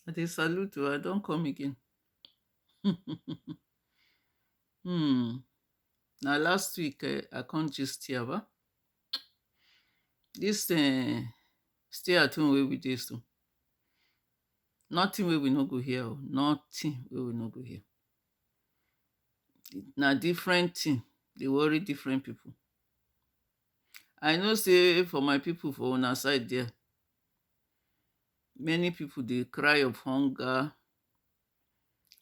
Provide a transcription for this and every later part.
I dey salute oo, I don come again. um na last week um I come gist here ba. Dis um stay at home wey we dey so, nothing wey we no go hear oo, nothing wey we no go hear. Na different thing dey worry different people. I know sey for my people for una side there many people dey cry of hunger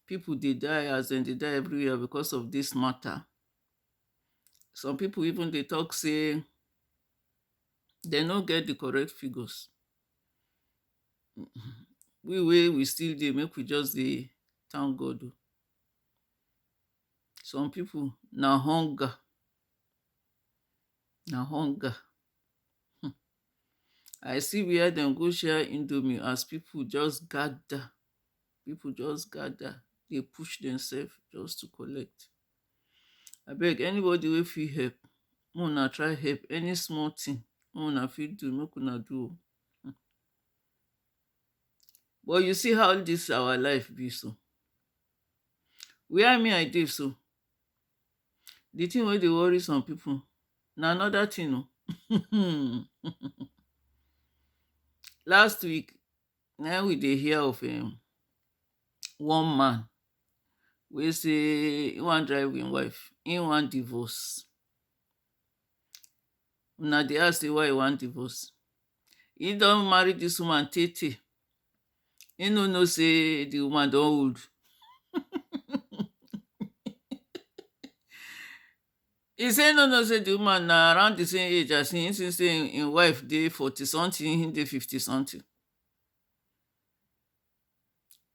people dey die as dem dey die every year because of this matter some people even dey talk sey dem no get the correct figures we wey we still dey make we just dey thank God o some people na hunger Na hunger um I see where dem go share indomie as people just gather, people just gather dey push themselves just to collect. Abeg anybody wey fit help, make una try help, any small thing wey una fit do, make una do o. um But you see how dis our life be so, where me I dey so, Di tin wey dey worry some pipu na anoda tin o um Last week na im we dey hear of um one man wey say im wan drive im wife, im wan divorce Una dey ask say why e wan divorce? Im don marry dis woman tey tey He no know say the woman don old. he say no know say the woman na around the same age as him since say him, him wife dey forty something, him dey fifty something.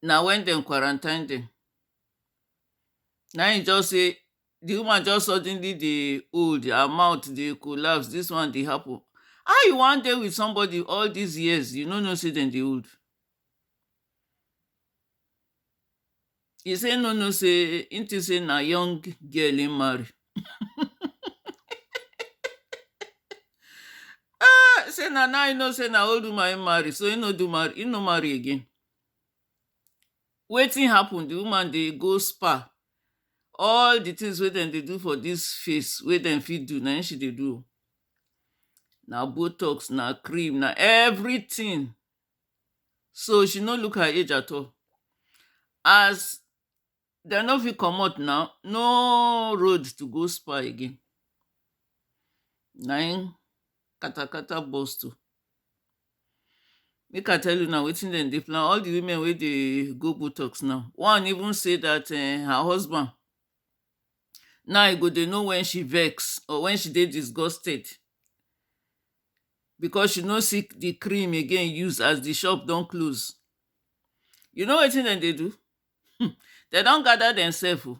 Na when dem quarantine dem. Na him just say di woman just suddenly dey old her mouth dey collapse dis one dey happen how you wan dey with somebody all dis years you no know say dem dey old e say im no know say im think say na young girl im marry ah say na now im know say na old woman im marry so im no do marry im no marry again Wetin happen di woman dey go spa all di tins wey dem dey do for dis face wey dem fit do na im she dey do oh na botox, na cream, na everytin so she no look her age at all as dem no fit comot na, no road to go spa again na im katakata burst oh Make I tell una wetin dem dey plan all di women wey dey go botox now one even say dat um her husband now e go dey know wen she vex or wen she dey disgusted because she no see di cream again use as di shop don close you know wetin dem dey do um dem don gather dem selves oh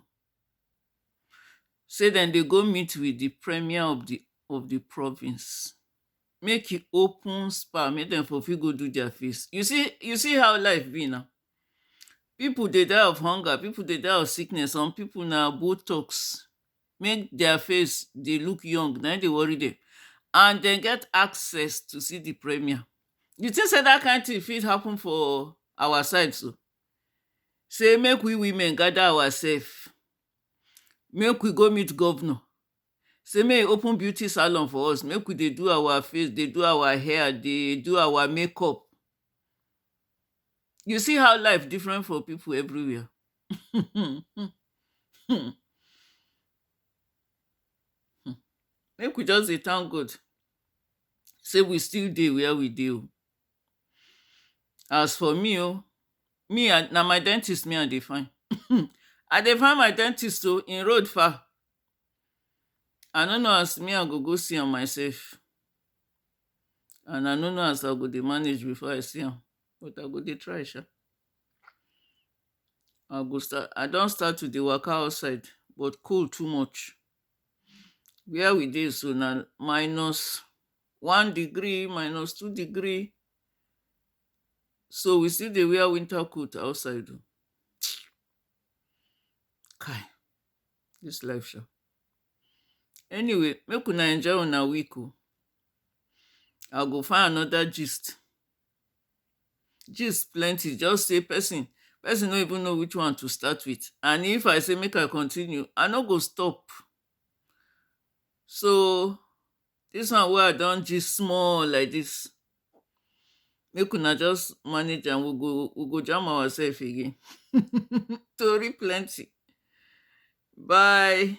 say dem dey go meet with di premier of di of di province make e open spa make dem for fit go do their face you see you see how life be na people dey die of hunger people dey die of sickness some people na botox make their face dey look young na im dey worry dem and dem get access to see the premier you think say that kind thing fit happen for our side so say make we women gather ourselves make we go meet governor Say make e open beauty salon for us make we dey do our face dey do our hair dey do our make up you see how life different for people every where um um um make we just dey thank God say we still dey where we dey o As for me oh, me I na my dentist me I dey find um I dey find my dentist oh, im road far I no know as me I go go see am myself and I no know as I go dey manage before I see am but I go dey try sha I go start, I don start to dey waka outside but cold too much where we dey so na minus one degree minus two degree so we still dey wear winter coat outside o kai this life sha anyway make una enjoy una week o i go find another gist gist plenty just say person person no even know which one to start with and if i say make i continue i no go stop so Dis one wey I don gist small like dis, make una just manage am, we go we go jam ourselves again. Tori plenty. Bye.